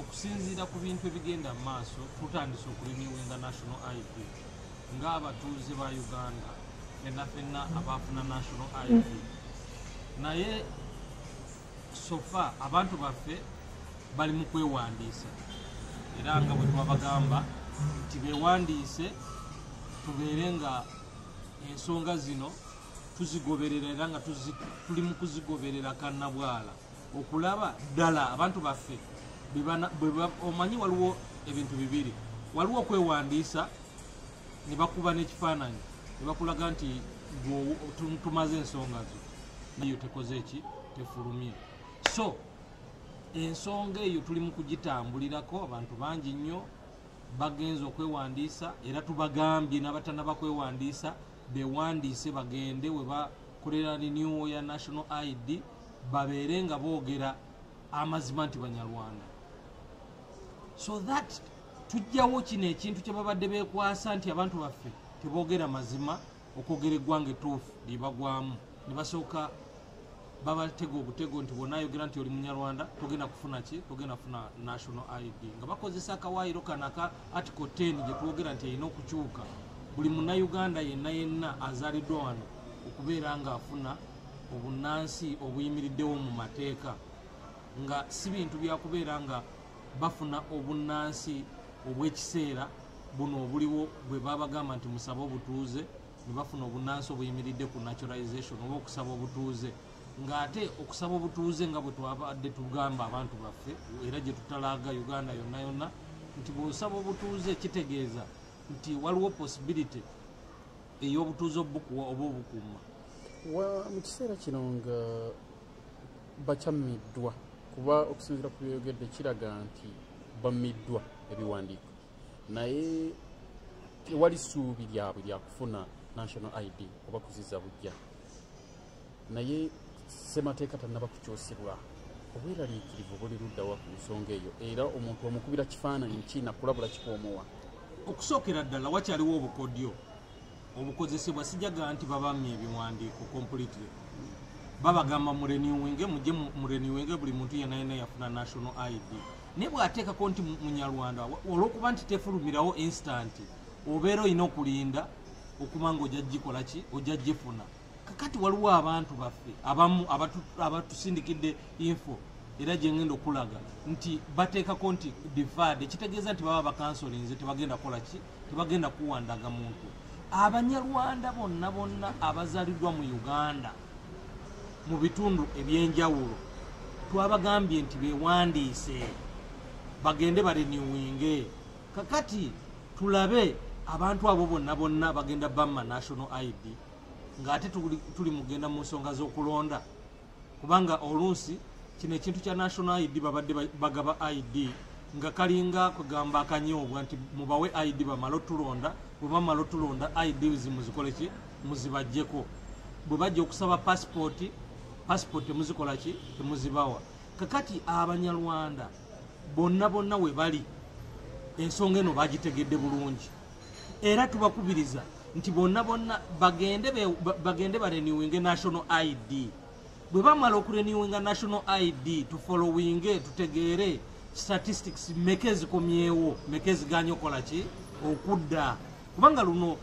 Okusinziira ku bintu ebigenda mu maaso, tutandise okulinyiwinga National ID ng'abatuuze ba Uganda fenna fenna abaafuna National ID naye sofa abantu baffe bali mu kwewandiisa era nga bwe twabagamba nti bewandiise tubeere nga ensonga zino tuzigoberera era nga tuli mu kuzigoberera kannabwala okulaba ddala abantu baffe omanyi waliwo ebintu bibiri waliwo okwewandiisa ne bakuba n'ekifaananyi ne bakulaga nti tumaze ensonga zo nayo tekoze eki tefulumye so ensonga eyo tuli mu kugitambulirako abantu bangi nnyo bagenze okwewandiisa era tubagambye n'abatana bakwewandiisa bewandiise bagende webakolera renewal ya national id babeere nga boogera amazima nti banyarwanda so that tujjawo kino ekintu kyebabadde bekwasa nti abantu baffe teboogera mazima okwogera eggwanga etuufu lyebagwamu nebasooka babatega ogutego nti bwona ayogera nti oli munyarwanda togenda kufuna ki togenda kufuna national id nga bakozesa akawaayiro kano aka article 10 gyetwogera nti erina okukyuka buli munauganda yenna yenna azaliddwa wano okubeera nga afuna obunnansi obuyimiriddewo mu mateeka nga si bintu byakubeera nga bafuna obunnansi obw'ekiseera buno obuliwo bwe babagamba nti musabe obutuuze ne bafuna obunnansi obuyimiridde ku naturalization oba okusaba obutuuze ng'ate okusaba obutuuze nga bwe twabadde tugamba abantu baffe era gye tutalaaga uganda yonna yonna nti bw'osaba obutuuze kitegeeza nti waliwo possibility ey'obutuuze obukuwa oba obukuuma wa mu kiseera kino nga bakyammiddwa kuba okusinzira ku byoyogedde kiraga nti bammiddwa ebiwandiiko naye tewali ssuubi lyabwe lyakufuna national id oba kuziza bujja naye ssemateeka tannaba kukyusibwa obweraliikirivu buli luddawa ku nsonga eyo era omuntu omukubira kifaananyi ki nakulabula kikoomowa okusookera ddala wakyaliwo obukodyo obukozesebwa sijaga nti babamye ebiwandiiko completely babagamba mureniwinge muje mureniwinge buli muntu yenayena yafuna national id naye bwateekako nti munyarwanda olwokuba nti tefulumirawo instant obeera olina okulinda okuba nga ojja gikolaki ojja gifuna kakati waliwo abantu baffe abamu abatusindikidde info era gyengenda okulaga nti bateekako nti divad ekitegeeza nti baba bakansolinze tebagenda kola ki tebagenda kuwandaga muntu abanyarwanda bonna bonna abazaliddwa mu uganda mu bitundu ebyenjawulo twabagambye nti bewandiise bagende bareniwinge kakati tulabe abantu abo bonna bonna bagenda bamma national id ng'ate tuli mugenda mu nsonga z'okulonda kubanga oluusi kino ekintu kya national id babadde bagaba id nga kalinga kugamba akanyoobwa nti mubawe id bamala otulonda bwebamala otulonda id zimuzikoleki muzibajjeko bwe bajja okusaba pasipooti pasipooti temuzikolaki temuzibawa kakati abanyarwanda bonna bonna we bali ensonga eno bagitegedde bulungi era tubakubiriza nti bonna bonna bagende bagende barenewinge national id bwe bamala okurenewinga national id tufollowinge tutegeere statistics meka ezikomyewo meka eziganya okola ki okudda kubanga luno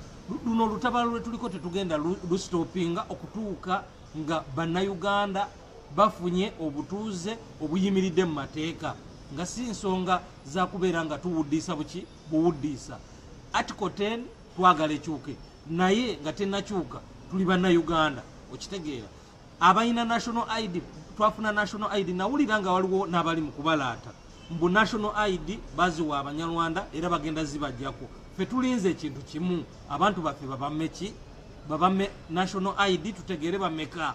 luno olutabalo lwetuliko tetugenda lustopinga okutuuka nga bannayuganda bafunye obutuuze obuyimiridde mu mateeka nga si nsonga zakubeera nga tuwuddiisa buki buwuddiisa article 10 twagala ekyuke naye nga tenakyuka tuli bannauganda okitegeera abalina national id twafuna national id nawulira nga waliwo n'abali mu kubalaata mbu national id baziwa abanyarwanda era bagenda zibajjako fe tulinze ekintu kimu abantu baffe babameki babame national id tutegeere bameka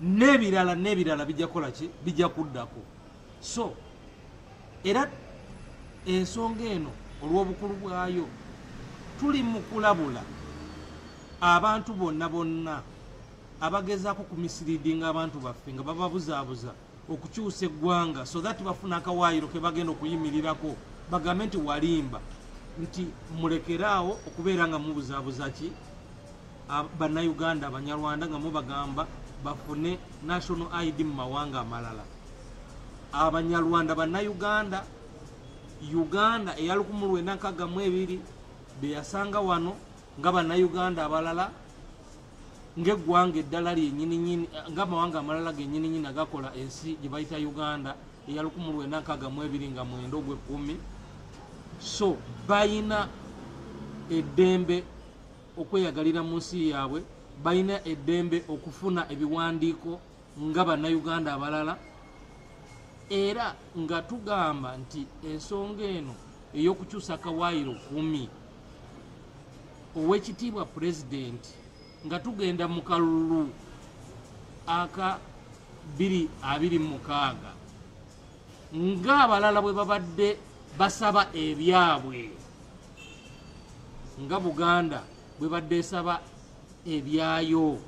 nebirala nebirala bijja kukola ki bijja kuddako so era ensonga eno olw'obukulu bwayo tuli mu kulabula abantu bonna bonna abagezaako kumisiriidinga abantu baffe nga bababuzaabuza okukyusa eggwanga so that bafuna akawaayiro ke bagenda okuyimirirako bagambe nti walimba nti mulekere awo okubeera nga mubuzabuza ki bannayuganda abanyarwanda nga mubagamba bafune national id mu mawanga amalala abanyarwanda bannayuganda uganda eya 1942 beyasanga wano nga bannayuganda abalala ng'eggwanga eddala lyenyininyini ng'amawanga amalala genyininyini agakola ensi gye bayita uganda eya 1962 nga mwenda ogw'ekkumi so balina eddembe okweyagalira mu nsi yaabwe balina eddembe okufuna ebiwandiiko nga bannayuganda abalala era nga tugamba nti ensonga eno ey'okukyusa kawaayiro kumi ow'ekitiibwa pulezidenti nga tugenda mu kalulu aka biri abiri mukaaga ng'abalala bwe babadde basaba ebyabwe nga buganda bwe badde esaba ebyayo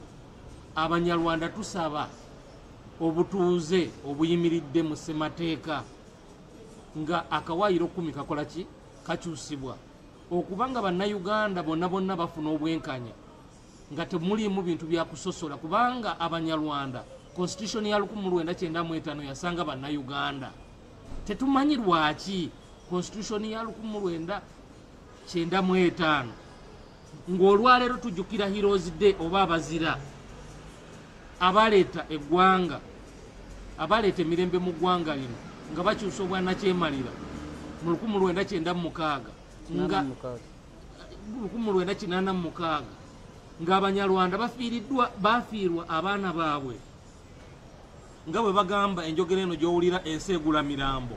abanyarwanda tusaba obutuuze obuyimiridde mu ssemateeka nga akawaayiro kumi kakola ki kakyusibwa okuba nga bannayuganda bonna bonna bafuna obwenkanya nga temuliimu bintu byakusosola kubanga abanyarwanda constitution ya 1995 yasanga bannayuganda tetumanyi lwaki constitution ya 19 kyenda mu etaano ng'olwaleero tujjukira heroes day oba abazira abaleeta eggwanga abaleeta emirembe mu ggwanga lino nga bakyusa obwanakyemalira mu lukumu lwenda kyenda mumukaaga nga lukumu lwenda kinaana mumukaaga ng'abanyarwanda bafiiriddwa bafiirwa abaana baabwe nga bwe bagamba enjogera eno gy'owulira ensi egula mirambo